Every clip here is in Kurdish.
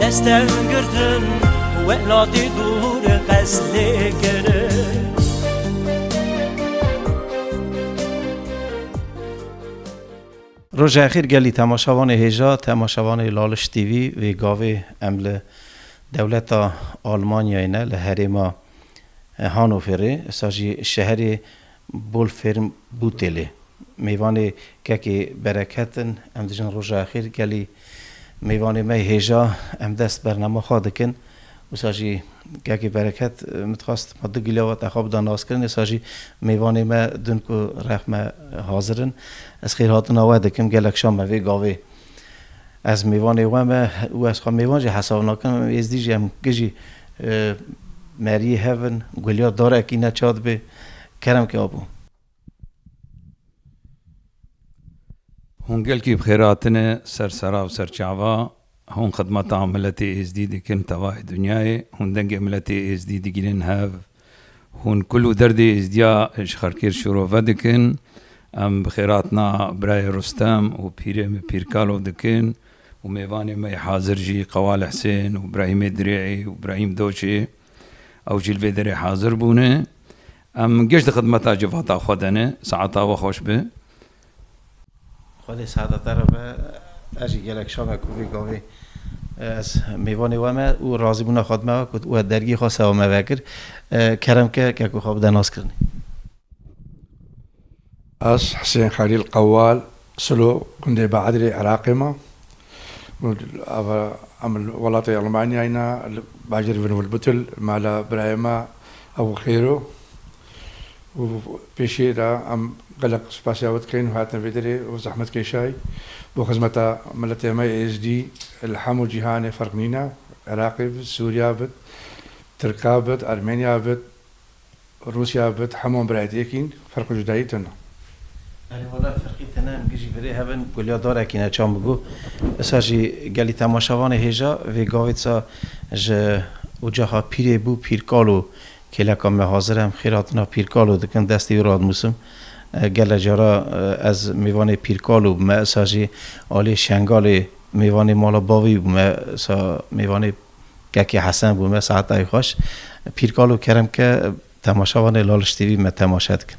Destem girtin welatê dûr qesdê kirin Rojexîr gelî temaşevanê hêja temaşevanê Laliş TV wê gavê em li dewleta Almanyayê ne li herêma Hanoverê êsa jî şeherê Bolfêrm Bûtêlê, mêvanê kekê bereket in, em dijin roja xêr gelî mêvanê me hêja em dest bernama xwe dikin, wisa jî kekê bereket min dixwast ma du gilava te xwe bida naskirin êsa jî mêvanê me din ku rexme hazir in ez xêrhatina we dikim gelek şam me vê gavê Ez mêvanê we me û ez xwe mêvan jî hesab nakim. Em êzdî jî em kijî meriyê hev in. Gulya darekî ne ça dibe. Kerem ke abû. Hûn gelkî bi xêr hatine ser sera û ser çava. Hûn xidmeta miletê êzdî dikin tevayê dinyayê. Hûn dengê miletê êzdî digînin hev. Hûn kul û derdê Êzdiya ji Xelkêrd şorove dikin. Em bi xêratina Birayê Rustem û Pîrê me Pîrkalo dikin û mêvanê me yê hazir jî Qewale Hisên û Brahîmê Dirê'ê û Brahîm Doçê ew jî li vê derê hazir bûne. Em geş di xidmeta civata xwe de ne. Saeta we xweş be. Xwedê seheta te re be ez jî gelek şame ku vê gavê ez mêvanê we me û razîbûna xwe dime we ku we dergî xwe sewa me vekir. Kerem ke ke ku xwe bide naskirinê. Ez Hisên Xelîl Qewal Silo gundê Beedrê Iraqê me. Ev em li welatê Elmanyayê ne li bajêr Vinwilbutil me li birayê me Ebu Xêro. û pêşiyê de em gelek spasiya we dikin û hatina vê derê û zehmetkeşay bo xizmeta miletê me êzdî li hemû cîhanê ferq nîne, Iraqê bit, Sûriya bit, Tirka bit, Ermeniya bit, Rûsiya bit, hemû em birayê diyek in, ferq û cudayî tune. Erê wele ferqî tune, em gijî birê hev in, kulya darekî ne çan bigo. Wisa jî gelî temaşevanê hêja vê gavê disa ji ocaxa pîrê bû pîrkal û Kêleka me hazir em xêratina Pîrkalo dikin, destê wî radnûsim. Gele cara ez mêvanê Pîrkalo bûme, îsa jî aliyê Şengalê mêvanê mala bavî bûme, îsa mêvanê Kekê Hesen bûme, saetayê xweş. Pîrkalo kerem ke temaşa vanê Laliş TV me temaşe dikin.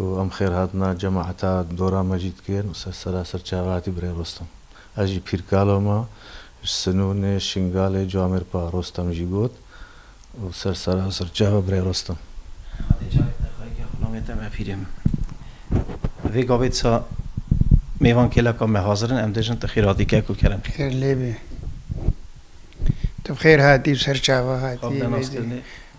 û em xêr hatina cemaeta dora me jî dikin û ser sera ser çava hatî birê Rostem. Ez jî pîrkalo me ji Sinûnê, Şingalê, Camêr pa Rostem jî got û ser sera ser çava birê Rostem. Xwedê carek di xweyîgê xwe namête me pîrê min. Vê gavê disa mêvan kêleka me hazir in, em dijin tu xêr hatî kek û kerem. Xêr lê bê. Tu bi xêr hatî û ser çava hatî. Xwe bi dê nas kirinê.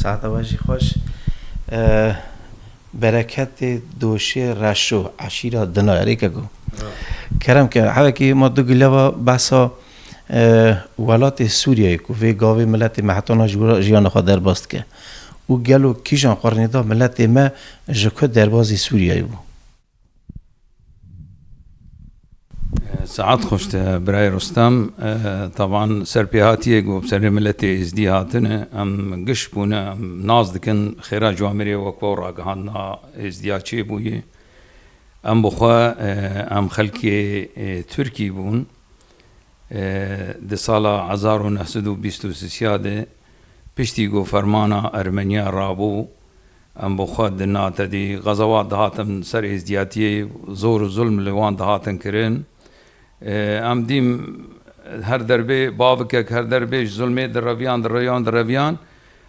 Saeta we jî xweş. Bereketê doşê reşo eşîra dina erêke ku kerem ke hevekê ma du gileva behsa welatê Sûriyeyê ku vê gavê miletê me heta na ji wira jiyana xwe derbas dike û gelo kîjan xwe rêne da miletê me ji ku derbazê Sûriyeyê bû. Saet xweş Birayê Rostem. Taban serpêhatiyê ku bi serê miletê Êzdî hatine em giş bûne em nas dikin xêra ji wan mirê wek we û ragihandina Êzdiya çê bûye. Em bi xwe em xelkê Tirkî bûn. Di sala hezar û neh sed û bîst û sîsya de piştî ku fermana Ermeniya rabû Em bi xwe di na tedî qezewat dihatin ser êzdiyatiyê, zor û zulm li wan dihatin kirin. Em dîm her derbê bavikek her derbê ji zulmê direviyan, direviyan, direviyan.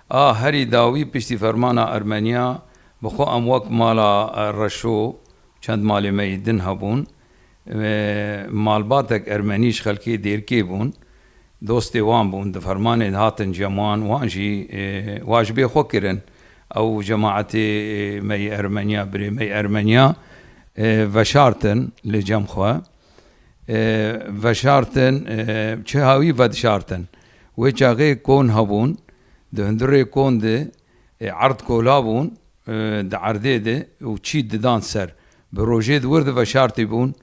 A herî dawî piştî fermana Ermeniya bi xwe em wek mala Reşo û çend malê me yê din hebûn. Malbatek ermenî ji xelkê Dêrkê bûn. Dostê wan bûn. Di fermanê de hatin cem wan. Wan jî wa ji bê xwe kirin. Ew cemaetê me yê Ermeniya, birê me yê Ermeniya veşartin li cem xwe. Veşartin, çiha wî vedişartin. Wê çaxê kon hebûn. Di hundirê kon de erd kola bûn. Di erdê de û çî didan ser. Bi rojê di wir de veşartî bûn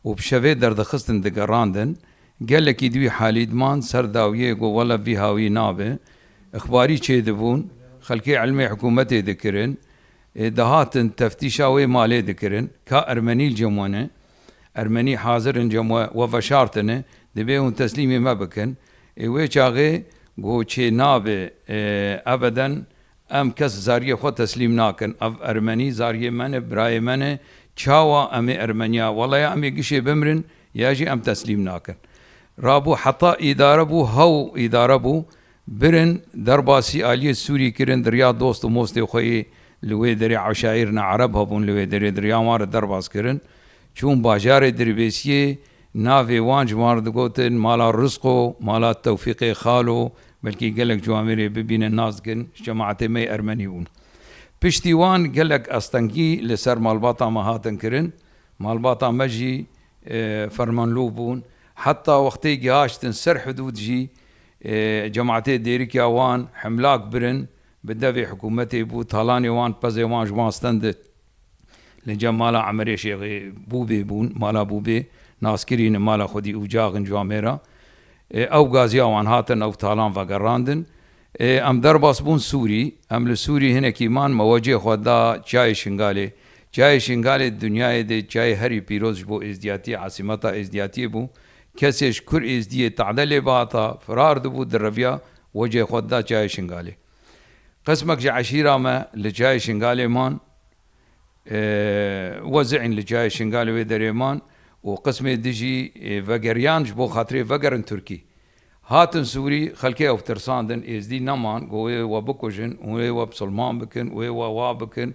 û bi şevê derdixistin digerandin. Gelekî di wî halî diman ser dawiyê got wele vî hawî nabe. Îxbarî çêdibûn, xelkê elmê hikûmetê dikirin. Ê dihatin teftîşa wê malê dikirin. Ka ermenî li cem we ne. Ermenî hazir in cem we, we veşartine. Divê hûn teslîmê me bikin. Ê wê çaxê got çê nabe. Ebeden Em kes zariyê xwe teslîm nakin. Ev ermenî zariyê me ne, birayê me ne. Çawa em ê Ermeniya wele ya em ê gişê bimrin ya jî em teslîm nakin. Rabû heta îdare bû hew îdare bû. Birin derbasî aliyê Sûrî kirin dirya dost û mostê xwe yê li wê derê eşaîr ne ereb hebûn li wê derê dirya wan re derbas kirin. Çûn bajarê Dirbêsiyê. Navê wan ji wan re digotin Mala Rizqo, Mala Tewfîqê Xalo, belkî gelek ji wan mêrê bibînin nas dikin, ji çemeatê me yê Ermenî bûn. Piştî wan gelek astengî li ser malbata me hatin kirin. Malbata me jî fermanlûv bûn. Heta wextê gihaştin ser hidûd jî cemaatê dêrikiya wan himlak birin bi devê hikûmetê bû, talanê wan, pezê wan ji wan stendin. Li cem mala Emirê Şêxê Bûbê bûn, mala Bûbê nas kirîne mala xwedî û caxin ji wan mêra. Ew gaziya wan hatin ew talan vegerandin. Em derbas bûn Sûrî. Em li Sûrî hinekî man me wecê xwe da Çayê Şingalê. Çayê Şingalê di dinyayê de çayê herî pîroz ji bo Êzdiyatiyê, esîmeta Êzdiyatiyê bû. Kesê ji Kur Êzdiyê tade lê bihata, firar dibû, direviya, wecê xwe dida Çayê Şingalê. Qismek ji eşîra me li Çayê Şingalê man. Wezî'în li Çayê Şingalê wê derê man û qismê din jî vegeriyan ji bo xatirê vegerin Tirkî. Hatin Sûrî, xelkê ew tirsandin, Êzdî neman ku wê we bikujin û wê we misilman bikin û wê we wa bikin,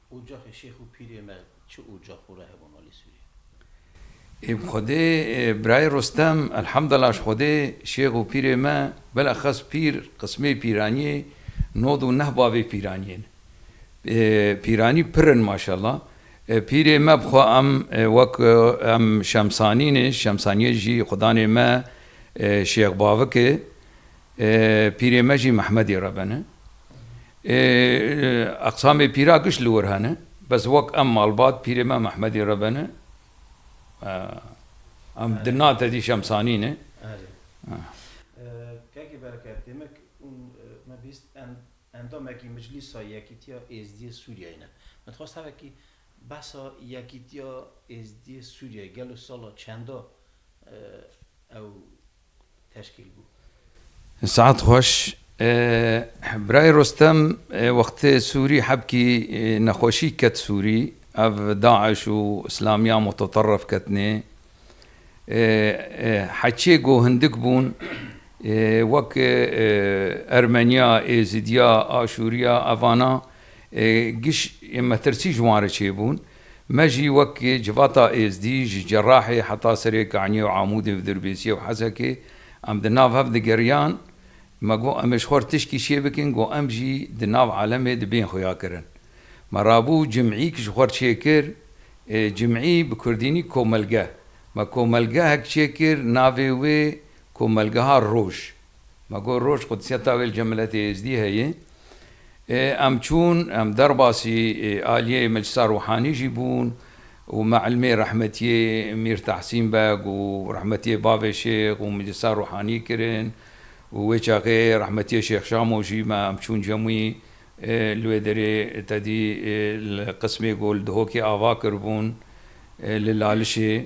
Ocaxê şêx û pîrê me çi ocax û rehê bûn alî Sûriyê? Ê bi Xwedê birayê Rostem, Elhamdela ji Xwedê şêx û pîrê me bileqes pîr qismê pîraniyê nod û neh bavê pîraniyê ne. Pîranî pir in maşella. Pîrê me bi xwe em wek em Şemsanî ne, Şemsaniyê jî xwedanê me şêx bavik e. Pîrê me jî Mehmedê re bene. Eqsamê pîra giş li wir hene. Bes wek em malbat pîrê me Mehmedê re bene. Em di na tedî şemsanî ne. Kaki Bereket, demek hûn me bîst endamekî Miclîsa Yekîtiya Êzdiyê Sûriyeyê ne. Me dixwest hevekî behsa Yekîtiya Êzdiyê Sûriyeyê gelo sala çenda ew teşkîl bû. Saet xweş. Birayê Rostem wextê Sûrî hebkî nexweşî ket Sûrî, ev DAIŞ û Îslamiya Muteterrif ketnê. Heçê ku hindik bûn wek Ermeniya, Êzîdiya, Aşûriya evana giş metirsî ji wan re çêbûn. Me jî wek civata Êzdî, ji Cerahê heta serê Kaniyê û Amûdê û Dirbêsiyê û Hesekê em di nav hev digeriyan, me got em ê ji xwe re tişkî şiyê bikin ku em jî di nav alemê di bên xwe ya kirin. Me rabû cim'îk ji xwe re çêkir, cim'î bi kurdînî komelge. Me komelgehek çêkir navê wê komelgeha roj Ma got roj qudsiya tavêl cem miletê êzdî heye. Em çûn, em derbasî aliyê Meclisa Rûhanî jî bûn û me ilmê rehmetiyê Mîr Tahsîn Beg û rehmetiyê bavê Şêx û Meclisa Rûhanî kirin û wê çaxê rehmetiyê Şêx Şamo jî me em çûn cem wî li wê derê tedî li qismê ku li Dihokê ava kiribûn li Lalişê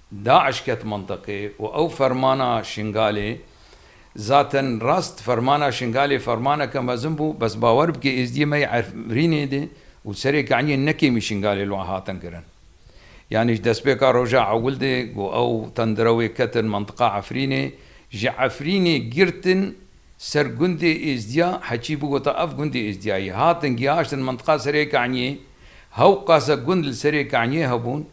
DAIŞ ket mintiqê û ew fermana Şingalê, zaten rast fermana Şingalê fermaneke mezin bû, bes bawer bike Êzdiyê me yê Efrînê de û serê Keniyê ne kêmî Şingalê li wan hatin kirin. Yanî ji destpêka roja ewil de ku ew tendira wê ketin mintiqa Efrînê, ji Efrînê girtin ser gundê Êzdiya, Heçî bigota ev gundê Êzdiya ye, hatin gihaştin mintiqa serê Keniyê, hewqase gund li serê Keniyê hebûn,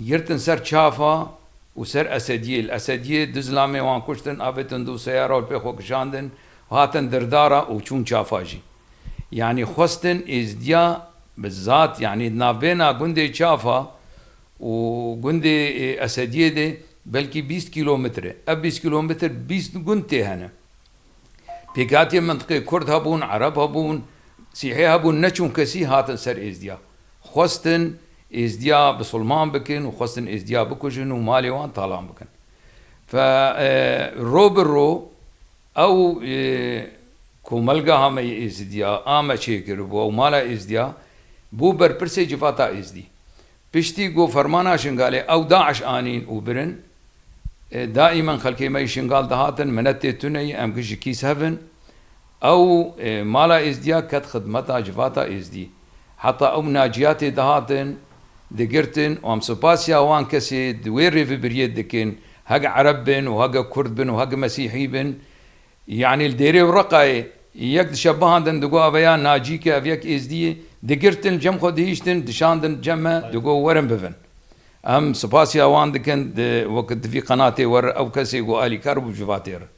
Girtin ser çafa û ser Esediyê. Li Esediyê du zilamê wan kuştin, avêtin du seyara û pê xwe kişandin û hatin Dirdara û çûn çafa jî. Yanî xwestin Êzidiya bi zat yanî di navbêna gundê Çafa û gundê Esediyê de belkî bîst kîlometre. Ev bîst kîlometre bîst gund tê hene. Pêkhatiyên mintiqê kurd hebûn, ereb hebûn, sîhê hebûn ne çûnkesî hatin ser êzdiya. Xwestin êzdiya bisulman bikin û xwestin êzdiya bikujin û malê wan talan bikin. Fe ro bi ro ew komelgeha me yê êzidiya a me çêkiribû ew mala êzdiya bû berpirsê civata êzdî. Piştî ku fermana Şingalê ew DAIŞ anîn û birin, daîman xelkê me ji Şingal dihatin minetê tune yê em ji kîs hev in. Ew mala Êzdiya ket xidmeta civata Êzdî. Heta ew Naciya tê dihatin digirtin û em supasiya wan kesê di wê rêvibiriyê dikin hege Ereb bin û hege Kurd bin û hege Mesîhî bin. Yanî li Dêrê û Reqayê yek dişe bihandin digo eve ya Nacîk e, ev yek Êzdî ye. Digirtin cem xwe dihiştin dişandin cem me digo werin bivin. Em sipasî ewan dikin di wekî di vî qenatê we re ew kesê ku alîkar bû ji vatê re.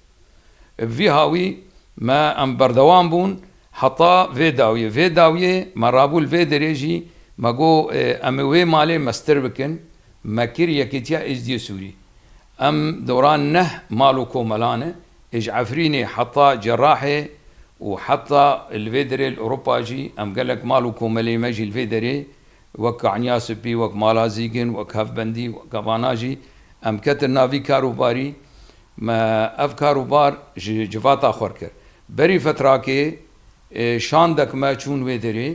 Bi vî hawî me em berdewam bûn heta vê dawiyê. Vê dawiyê me rabû li vê derê jî me got em ê wê malê mestir bikin me kir Yekêtiya Êzdî Sûrî. Em doran neh mal û komelan e, ê ji Efrînê heta Cerrahê û heta li vê derê li Ewropa jî em gelek mal û komelên me jî li vê derê wek Kaniya Sipî, wek Mala Zîgin, wek Hevbendî, wek Gavana jî em ketin nav vî kar û barî. Me ev kar û bar ji civata xwe kir. Berî fetrakê şandek me çûn wê derê.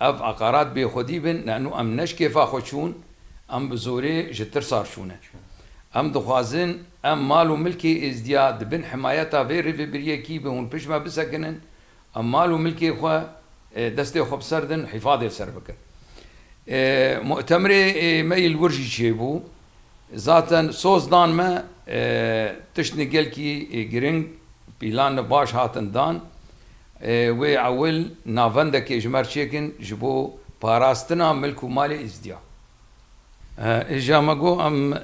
Ev eqarat bêxwedî bin ne nû em ne ji kêfa xwe çûn, em bi zorê ji tirsa re çûne. Em dixwazin em mal û milkê Êzdiya di bin himayeta vê rêvebiriyekî bi hûn pişt me bisekinin, em mal û milkê xwe destê xwe bi ser din û hîfadê li ser bikin. Mutemirê me yê li wir jî çêbû. Zaten soz dan me tiştên gelkî giring pîlan baş hatin dan. Wê ewil navendekê ji mer çêkin ji bo parastina milk û malê îzdiya. Îja me got em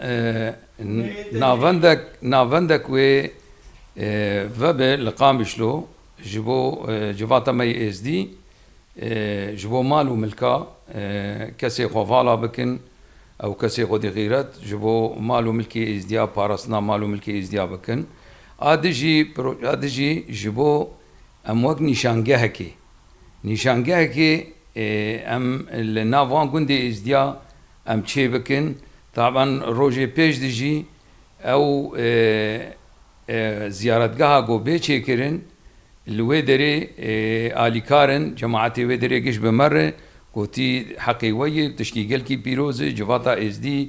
navendek navendek wê vebe li Qamişlo ji bo civata me yê êzdî ji bo mal û milka kesê xwe vala bikin ew kesê xwedî xîret ji bo mal û milkê îzdiya parastina mal û milkê îzdiya bikin. A dijî proje a dijî ji bo em wek nîşangehekê nîşangehekê em li nav van gundê Êzdiya em çê bikin. Taban rojê pêş dijî ew ziyaretgeha got bê çêkirin li wê derê alîkar in cemaetê wê derê giş bi me re gotî heqê we ye tiştî gelkî pîroz e civata Êzdî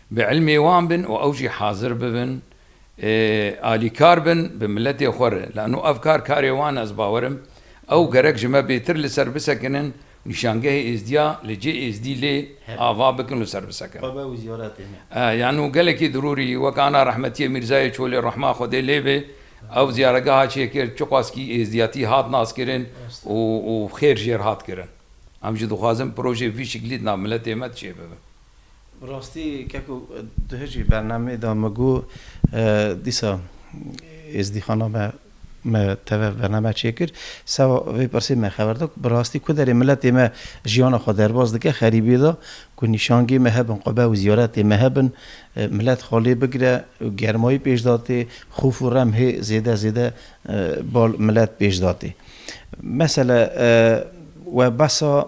Bi ilmê wan bin û ew jî hazir bibin alîkar bin bi miletê xwe re. Lano ev kar karê wan e, ez bawer im ew gerek ji me bêtir li ser bisekinin û nîşangehê êzdiya li cê êzdî lê ava bikin û ser bisekinin. Lano gelekî dirûrî wek ana rehmetiyê Mîrzayê Çolê rehma Xwedê lê be ew ziyaregeha çêkir çiqaskî êzdiyatî hat naskirin û xêr jêr hat kirin. Em jî dixwazin projeyê vî şiklî di nav miletê me de çêbibe. Bi rastî ke ku di hijî bernameyê de min got dîsa êzdîxana me me teve bername çêkir sewa vê pirsê me xeber da ku bi rastî ku derê miletê me jiyana xwe derbas dike xerîbiyê de ku nîşangê me hebin qube û ziyaretê me hebin milet xwe lê bigire û germayî pêş datê xof û rem hê zêde zêde bal milet pêş datê. Mesele we behsa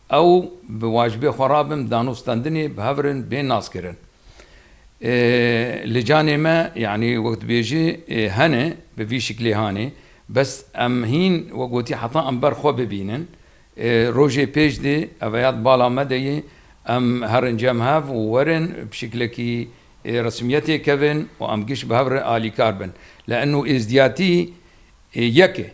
Ew bi wacibê xwe re bin dano standinê bi hev re bên naskirin. Li canê me yanî wek dibêjî hene bi vî şiklê hanê bes em hîn wek gotî heta em ber xwe bibînin rojê pêş dê eveya di bala me de yê em herin cem hev û werin bi şiklekî resmiyetê kevin û em giş bi hev re alîkar bin leeno êzdiyatî yek e.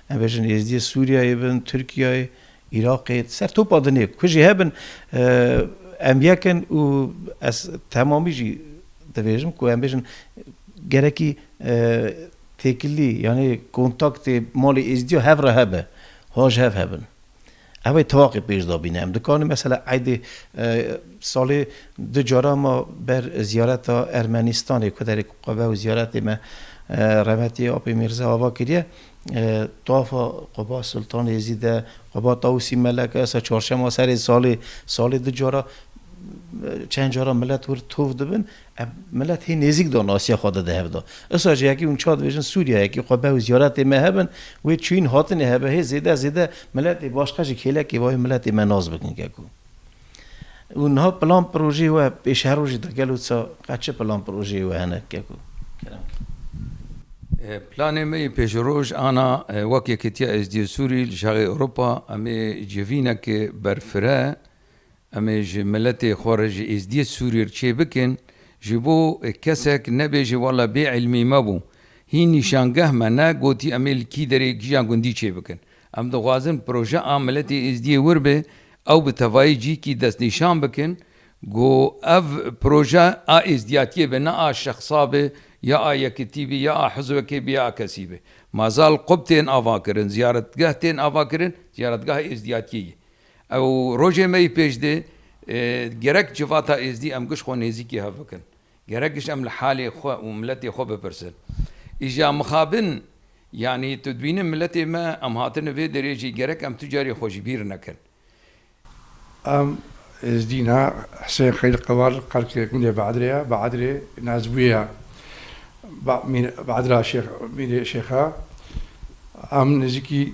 Em bêjin êzdiyê Sûriyeyê bin, Tirkiyeyê, Iraqê, ser topa dinê ku jî hebin em yek in û ez temamî jî dibêjim ku em bêjin gerekî têkilî yanî kontaktê malê êzdiya hev re hebe, ha ji hev hebin. Ev ê tevaqî pêş de bîne. Em dikarin mesela eydê salê du cara ma ber ziyareta Ermenistanê ku derê ku qebe û ziyaretê me Remetî Apê Mîrza Ava kiriye tafa Quba Sultan Êzîd e, Quba Tawusî Melek e, sa çarşema serê salê salê du cara çend cara milet wir tov dibin Ev milet hê nêzîk de nasiya xwe de di hev de. Îsa jî yekî hûn çar dibêjin Sûriya yekî xwe be û ziyaretê me hebin, wê çûyîn hatinê hebe hê zêde zêde miletê başka jî kêlekê vayê miletê me nas bikin ke ku û niha plan pirojeyê we pêş her rojê de gelo ça qet çi plan pirojeyê we hene ke ku kerem ke. Planê me yê pêşroj ana wek Yekîtiya Êzdîyê Sûrî li Şexê Ewropa em ê civînekê berfireh Em ê ji miletê xwe re ji êzdiyê Sûriyê re çê bikin, ji bo kesek nebêje wala bê îlmî me bû. Hîn nîşangeh me ne gotî em ê li kî derê kîjan gundî çê bikin. Em dixwazin proje a miletê êzdiyê wir be, ew bi tevayî cîkî destnîşan bikin ku ev proje a êzdiyatiyê be ne a şexsa be ya a yekitî be ya a hizwekê be ya a kesî be. Mazal qub tên avakirin, ziyaretgeh tên avakirin, ziyaretgeha êzdiyatiyê ye. Ew rojê me yî pêş dê. Gerek civata Êzdî em giş xwe nêzîkî hev bikin. Gerek giş em li halê xwe û miletê xwe bipirsin. Îja mixabin yanî tu dibînin miletê me em hatine vê derê jî gerek em tu carî xwe ji bîr nekin. Em Êzdî na Husên Xelîl Qewar qelkê gundê Be'edrê ye, Be'edrê Nazbûyê ye. Be'edra Şêx Mîrê Şêx e. Em nêzîkî.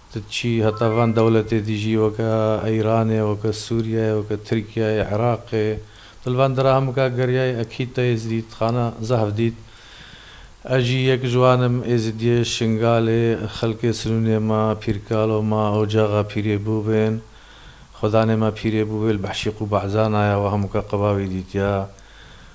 Tu çî heta van dewletê dijî weke Îranê, weke Sûriyeyê, weke Tirkiyeyê, Iraqê. Tu li van dirahamika geriyayê ekîd te êzidîdxana zehf dît. Ez jî yek ji wan im, êzidiyê Şingalê, xelkê Sinûnê me, Pîrkalo me, ocaxa Pîrê Bûvên. Xwedanê me Pîrê Bûvê li Behşîq û Barzana ye, we hemûka qebawî dîtiye.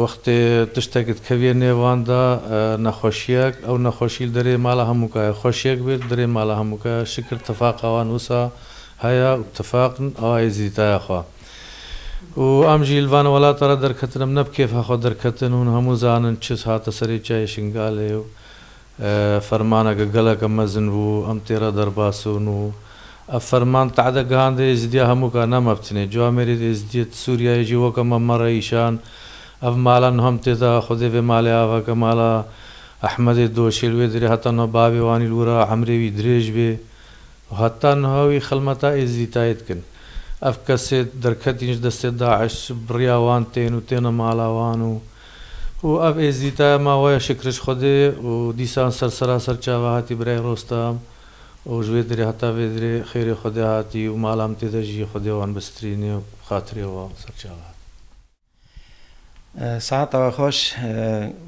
Wextê tiştek dikevîye nêvan de nexweşîyek, ew nexweşî li derê mala hemûka ye. Xweşîyek bê li derê mala hemûka ye. Şikir tifaqa wan wisa heye û tifaq in awa êzîdîtaya xwe. Û em jî li van welata re derketin, em ne bi kêfa xwe derketin. Hûn hemû zanin çi hate serê çayê Şingalê û Fermaneke geleke mezin bû, em tê re derbas bûn û ev ferman tehdê gihandê Êzidiya hemû ka ne meftinê. Ji Amêrî di Êzidiyê di Sûriyeyê jî weke me me re îşan. Ev mala niha em tê de, xwedê vê malê ava ke mala Ehmedê doşê li wê dirê heta niha bavê wan î li wir a, emrê wî dirêj bê û heta niha wî xilmeta Êzidîtayê dikin. Ev kesê derketîn ji destê Daîş, biriya wan tên û têne mala wan û Û ev êzîdaya ma waya şikiriş Xwedê û dîsan ser seraser çava hatî birayê Rostam û ji wê dirê heta vê dirê xêrê Xwedê hatî û mala min tê de jî Xwedê wan bistrîne û bi xatirê wan ser çava hatî. Sehata we xweş.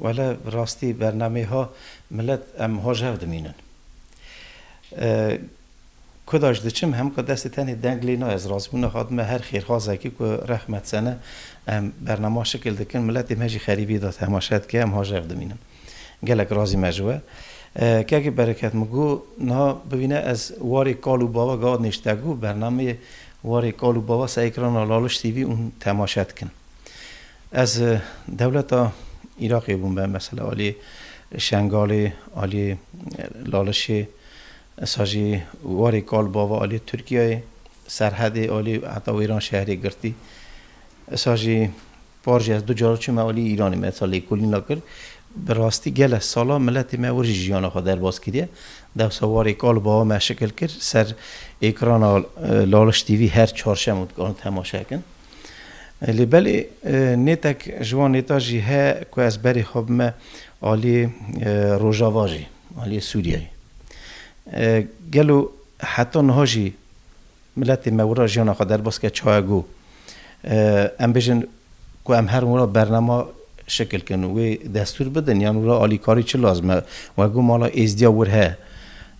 Wele bi rastî bernameyê ha milet em hojev dimînin. Ku da ji diçim hem ku destê tenê deng lê nayê ez razî bûm nehat me her xêrxwazekî ku rehmet sene em bernama şikil dikin miletê me jî xerîbî da temaşe dike em hajev dimînin gelek razî me ji we kekê bereket min got niha bibîne ez warê kal û bava gava nêşte got bernameyê warê kal û bava ser ekrana laliş TV û temaşe dikin ez dewleta Îraqê bûm be mesela aliyê şengalê aliyê lalişê Esa jî warê kal bava aliyê Tirkiyeyê, serhedê alî heta wêran şehrê girtî. Esa jî par jî ez du car çûme alî Îranê min esa lêkolîna kir. Bi rastî gelek sala miletê me wir jî jiyana xwe derbas kiriye. Dewsa warê kal bava me şikil kir ser êkrana Laliş TV her çarşem û dikarin temaşe bikin. Lê belê nêtek ji wan nêta jî heye ku ez berê xwe bime aliyê Rojava jî. Aliyê Sûriyeyê. Gelo heta niha jî miletê me wira jiyana xwe derbas kir çaye got em bêjin ku em herin wira bernama şikil kin û wê destûr bidin yan wira alîkarî çi lazim e? We got mala Êzdîya wir heye.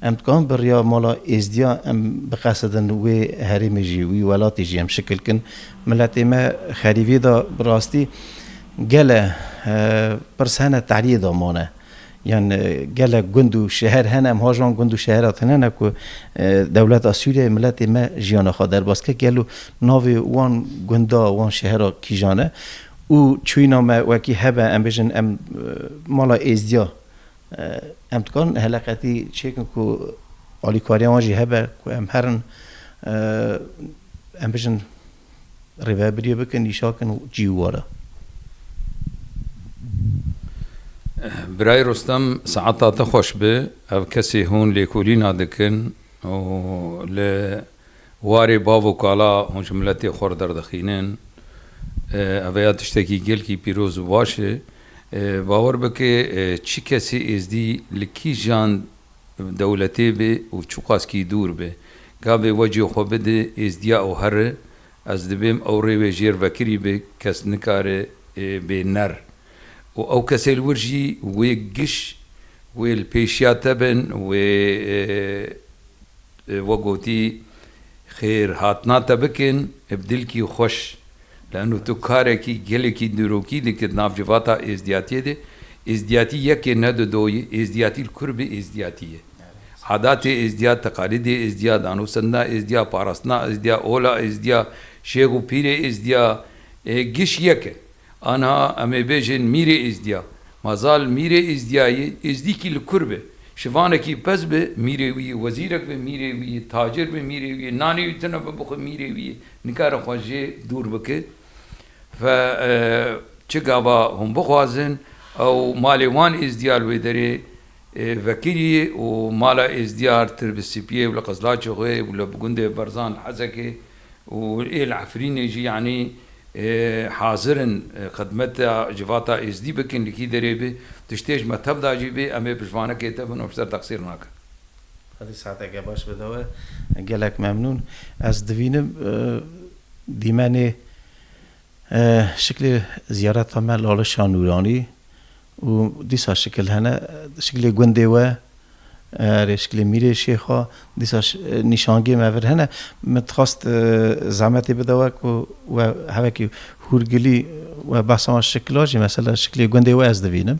Em dikarin bi riya mala Êzdîya em biqesidin wê herêmê jî wî welatê jî em şikil kin. Miletê me xerîvê de bi rastî gele pirs hene teriyê de mane. Yan gelek gund û şeher hene, em haji wan gund û şehera tune ne ku dewleta Sûriyeyê miletê me jiyana xwe derbas kir. Gelo navê wan gunda, wan şehera kîjan e û çûyîna me wekî hebe em bêjin em mala êzdiya em dikarin heleqetî çêkin ku alîkariya wan jî hebe ku em herin em bêjin Rêvebiriyê bikin, nîşakin û cî û ware. Birayê Rostem saeta te xweş bi. Ev kesê hûn lêkolîna dikin û li warê bav û kala hûn ji miletê xwe re derdixînin. Ev ya tiştekî gelkî pîroz û baş e. Bawer bike çi kesê êzdî li kîjan Dewletê bê û çiqaskî dûr bê. Gavê wecê xwe bidê êzdiya û here, ez dibêm ew rê wê jêr vekirî bê, kes nikare bê ner. Û ew kesê li wir jî wê giş, wê li pêşiya te bin, wê wek gotî xêr hatina te bikin, bi dilkî xweş Lano tu karekî gelekî nirokî dikir navçe vata êzdiyatiyê de. Êzdiyatî yekê ne du doyî, êzdiyatî li kur bi êzdiyatî ye. Adatê êzdiya, teqalîdê êzdiya, danosendina êzdiya, parastina êzdiya, ola êzdiya, şêx û pîrê êzdiya e, giş yek in. Aniha em ê bêjin mîrê êzdiya. Ma zal mîrê êzdiyayê, êzdîkî li kur be, şivanekî pez be, mîrê wî yê wezîrek be, mîrê wî yê tacir be, mîrê wî yê nanê wî tune be bixwe, mîrê wî yê Nikare xwe jê dûr bike ve çi gava hûn bixwazin ew malê wan Êzdiyar wê derê vekirî û mala Êzdiyar tir bi Sipiyê û li Qizlaçê xwe û li gundê Berzan li Hesekê û ê li Efrînê jî yanî hazir in xidmeta civata Êzdî bikin li kî derê be tiştê ji me tev da jî be em ê piştvanekê te bin û ji te texsîr nakin. Xwedî saeteke baş bide we. Gelek memnûn. Ez dibînim dîmenê şiklê ziyareta me Lale Şah Nûranî û dîsa şikil hene. Şiklê gundê we rê şiklê mîrê şêxa dîsa nîşangê me vir hene. Min dixwest zehmetê bide we ku we hevekî hûrgilî we behsa wan şikla jî mesela şiklê gundê we ez dibînim.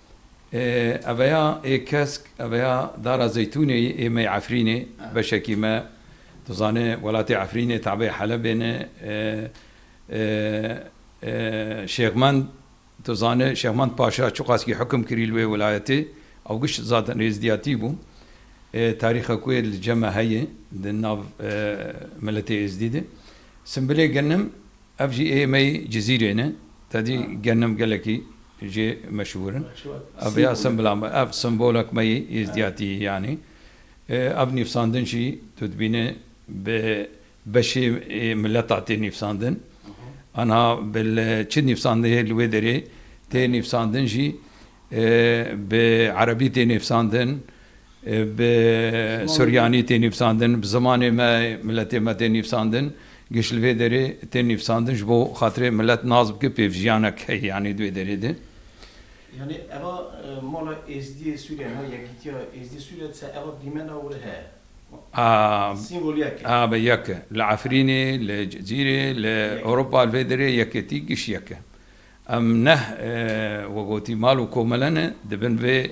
Eveya ê kesk, eveya dara Zeytûnê yê ê me yê Efrînê. Beşekî me, tu zanê welatê Efrînê tabeyê Helebê ne. Şêxmend, tu zanê Şêxmend Paşa çiqaskî hukm kirî li wê welayetê, ew giş zad nêzdiyatî bû. Tarîxa ku yê li cem e heye di nav miletê êzdî de. Simbilê genim Ev jî ê mey Cizîrê ne. Te dî genim gelekî jê meşhûr in. Ev vêya simbila me. Ev simbolek me yê Êzdiyatî yanî. Ev nîvsandin jî tu dibîne bi beşê mileta tê nîvsandin. Aniha bi li çi nîvsandin hê li wê derê tê nîvsandin jî bi erebî tê nîvsandin, Bi suryanî tê nivîsandin, bi zimanê me, miletê me tê nivîsandin. Giş li vê derê tê nivîsandin ji bo xatirê milet nas bike, pêvjiyanek heye yanî di vê derê de. Yanî eva mala Êzdiyê Sûriye ne, Yekîtiya Êzdî Sûriye dise eva dîmena were heye. Sîmbol yek e. Abe yek e. Li Efrînê, li Cizîrê, li Ewropa li vê derê yekêtî giş yek e. Em neh wek gotî mal û komele ne, di bin vê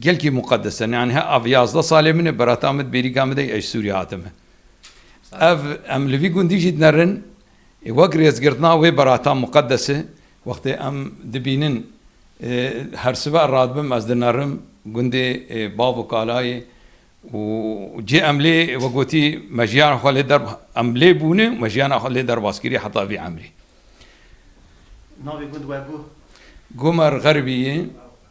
Gelkî muqeddes e. Nean he ev yazdeh salê min e berata min di bêrîka min de yê ez ji Sûriyê hatime. Ev em li vî gundî jî dinerin ê wek rêzgirtina wê berata muqeddes e. Wextê em dibînin her sibe radibim ez dinerim gundê bav û kalayê û cê em lê wek gotî me jiyana xwe lê der em lê bûne û me jiyana xwe lê derbas kiriye heta vî emrê. Navê gund we guh? Guh me Rixeribî ye.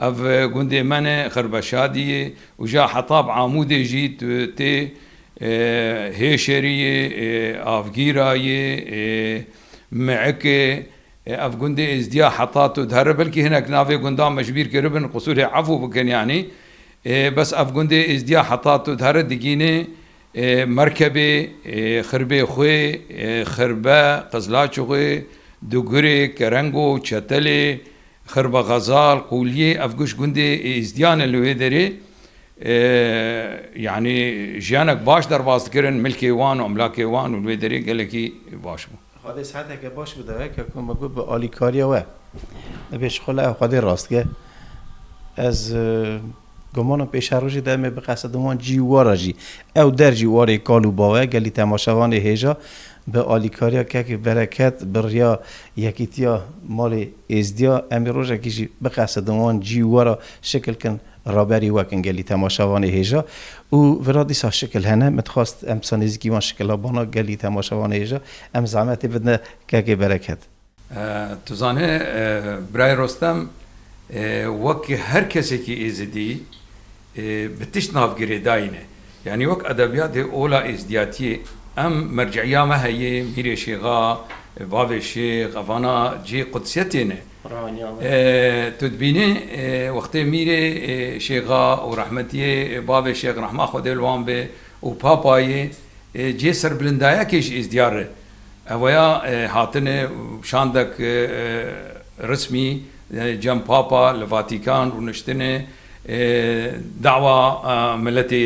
Ev gundê me ne Xirbeşadî yê û ja heta bi Amûdê jî tê, Hêşerî yê, Avgîra yê, Miik e. Ev gundê Êzdîya heta tu dihere belkî hinek navê gundan me ji bîr kiribin qisûrê efû bikin yanî. Bes ev gundê Êzdîya heta tu dihere digînê Merkebê, Xirbê Xwê, Xirbe, Qizlaçixwê, Dugurê, Kerengo, Çetelê, Xirbe Xezal, Qûliyê ev guş gundê Êzdiyan in li wê derê yanî jiyanek baş derbas dikirin milkê wan û emlakê wan û li wê derê gelekî baş bû. Xwedê siheteke baş bide we ke ku me got bi alîkariya we me pêşxwe li ew xwedê rast ke ez Domanan pêşerojê de em ê biqesedin wan cî û war a jî. Ew der jî warê kal û bawe gelî temaşevan ê hêja bi alîkariya kekê bereket bi riya yekîtiya malê êzdiya em ê rojekî jî biqesedin wan cî û war a şikil kin raberî wekin gelî temaşevan ê hêja û vira dîsa şikil hene min dixwast em dîsa nêzîkî wan şikila banak gelî temaşevan ê hêja em zehmetê bidne kekê bereket. Tu zanî Birayê Rostem wek her kesekî Êzidî bi tişt nav girêdayîne. Yanî wek edebiyatê ola Êzidiyatiyê em mercîiya me heye, Mîrê Şêxa, Bavê Şêx, evana cihê qudsiyetê ne. Tu dibînî wextê Mîrê Şêxa û rehmetiyê Bavê Şêx rehma Xwedê li wan be û Papayê cihê serbilindayekê ji Êzidiyar re Evoya hatinê şandek rismî cem Papa li Vatîkan rûniştinê dawa miletê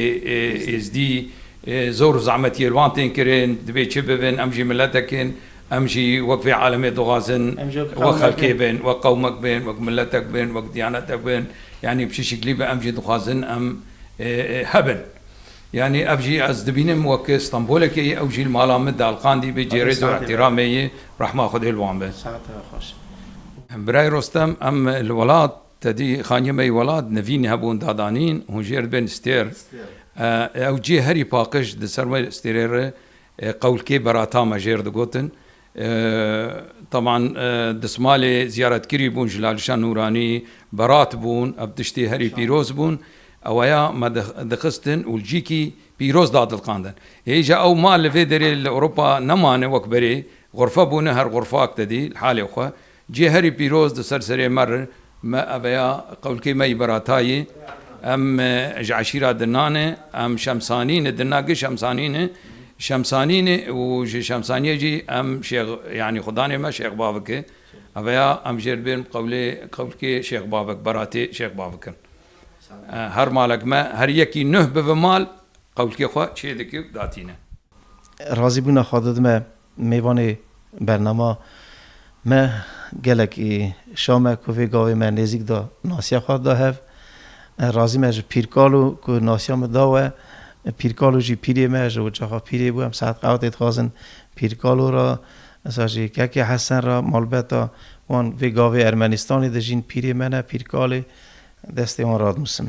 Êzdî zor û zehmet yê li wan tên kirin dibê çi bibin em jî miletek in em jî wek vê alemê dixwazin wek xelkê bin wek qewmek bin wek miletek bin wek diyanetek bin yanî bi çi şiklî be em jî dixwazin em hebin. Yanî ev jî ez dibînim wek Stenbolekê ye, ew jî li mala min dialqandî bê cê rêz û îhtîramê yê, rehma Xwedê li wan be. Birayê Rostem, em li welat, tedî xaniyê me yê welat, nevîn hebûn dadanîn, hûn jêr dibên stêr. Ew cê herî paqij di ser wê stêrê re qewlkê berata me jêr digotin. Taban dismalê ziyaretkirî bûn ji Lalişa Nûranî berat bûn ev tiştê herî pîroz bûn ewaya me dixistin û cî kî pîroz dadilqandin. Hêja ew ma li vê derê li Ewropa nemane wek berê xurfe bûne her xurfak tedî li halê xwe. Cî herî pîroz di ser serê me re me eve ya qewlkê me yî Beratayî em ji eşîra Dinanê em Şemsanînê Dina gi Şemsanînê Şemsanînê û ji Şemsanîyê jî em Şêx yanî xudanê me Şêx Bavik e eve ya em jêr bêrm qewlê qewlkê Şêx Bavik Beratê Şêx Bavik in her malek me her yekî nuh bive mal qewlkê xwe çê dike û datîne. Razîbûna xwe didime Mêvanê bernama me gelek ê Şam e ku vê gavê me nêzîk da nasiya xwe da hev. Razî me ji Pîrkalo ku nasiya min da we. Pîrkalo jî pîrê me ye, ji ocaxa pîrê bû. Em saet qewetê dixwazin Pîrkalo re, esa jî Keke Hesen re, malbeta wan vê gavê Ermenîstanê dijîn. Pîrê me ne Pîrkalê destê wan radnûsim.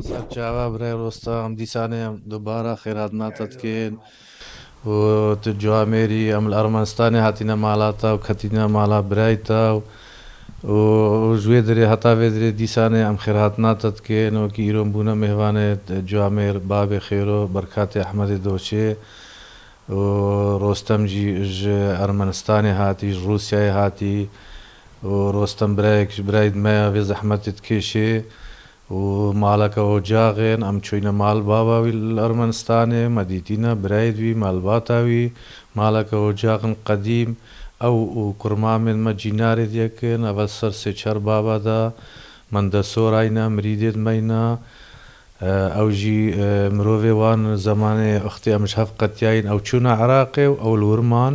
Ser çawa Birayê Rostam, dîsanê em dubara xêratna te dikin û tu cu Amêrî, em li Ermenistanê hatîne mala te û ketîne mala birayê te û ji wê dirê heta vê dirê dîsanê em xêratna te dikin. Wekî îro em bûne mêhvanê cu Amêr, Babê Xêro, Berkatê Ehmedê Doçê û Rostem jî ji Ermenistanê hatî, ji Rûsyayê hatî û Rostem birayek ji birayê di me ya vê zehmetê dikêşê Û maleke ocaxên em çûyne mal baba wî li Ermenistanê, me dîtîne birayîd wî, malbata wî, maleke ocaxên qedîm, ew û kurmamên me cînarê di yekin, ev e ser sê çar baba de, mendesûrayne, mirîdê di meyne, ew jî mirovê wan zemanê ixtê em ji hev qetiyayîn, ew çûne Iraqê û ew li wir man,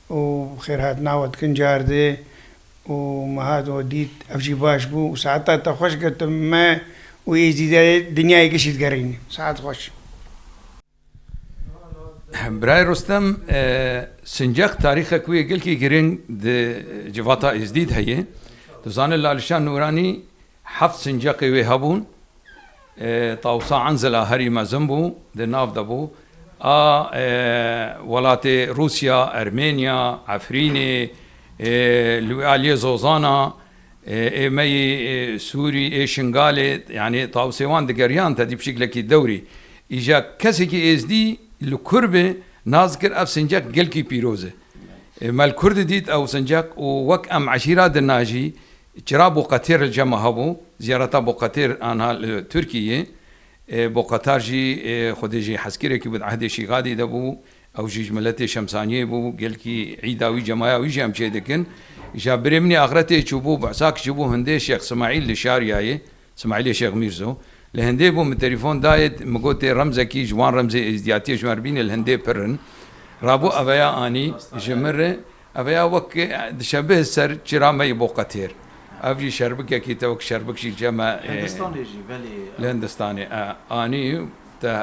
û bi xêr hatina we dikin cardê û me hat we dît ev jî baş bû û saeta te xweş got tu me û Êzidiyê dinyayê kişî digerîn saet xweş. Birayê Rostem Sincek tarîxek wê gelkî girîng di civata Êzdîd heye. Tu zanî Lalişan Nûranî Heft sincaqê wê hebûn. Tawsa Enzela herî mezin bû, di nav de bû. A welatê Rûsya, Ermênya, Efrînê, li wî aliyê Zozana, ê me yî Sûrî, ê Şingalê, yanî tawsê wan digeriyan tedî bi şiklekî dewrî. Îja kesekî êzdî li kur bi nas dikir ev sincaq gelkî pîroz e. Me li kur didît ew sincaq û wek em eşîra dinajî Çira Boqetêr li Cema hebû, ziyareta Boqetêr anha li Tirkiyeyê, Boqetar jî xwedê jî hezkirekî bû, di ehdê Şîgadî de bû, ew jî ji miletê Şemsaniyê bû, gelkî îda wî, cemaya wî jî em çêdikin. Ja birê min ê axretê çûbû, behsa ki çûbû hindê Şêx Simaîl li Şariyayê, Smaîlê Şêx Mîrzo, Li hindê bû min telîfon dayê min got tê remzekî ji wan remzê êzdiyatiyê ji wan re bîne li hindê pir in. Rabû eveya anî ji min re eveya wek dişebihe ser çira me yê boqetêr. Ev jî şerbikekî te wek şerbik jî ce me. Li hindistanê jî belê. Li hindistanê e anî te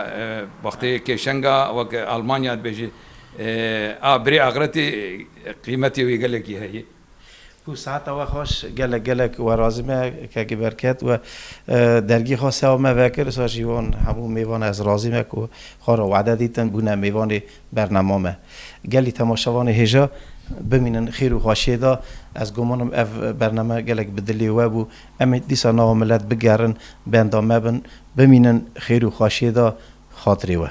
wextê kêşenga wek almanya dibêjî a birê axretê qîmetê wê gelekî heye. Ku sihata we xweş gelek gelek we razî me kekî berket we dergî xwe sewa me vekir ser jî wan hemû mêvan ez razî me ku xwe re wade dîtin bûne mêvanê bernama me gelî temaşevanê hêja bimînin xêr û xweşiyê de ez gumanim ev bername gelek bi dilê we bû em ê dîsa nava milet bigerin benda me bin bimînin xêr û xweşiyê de xatirê we.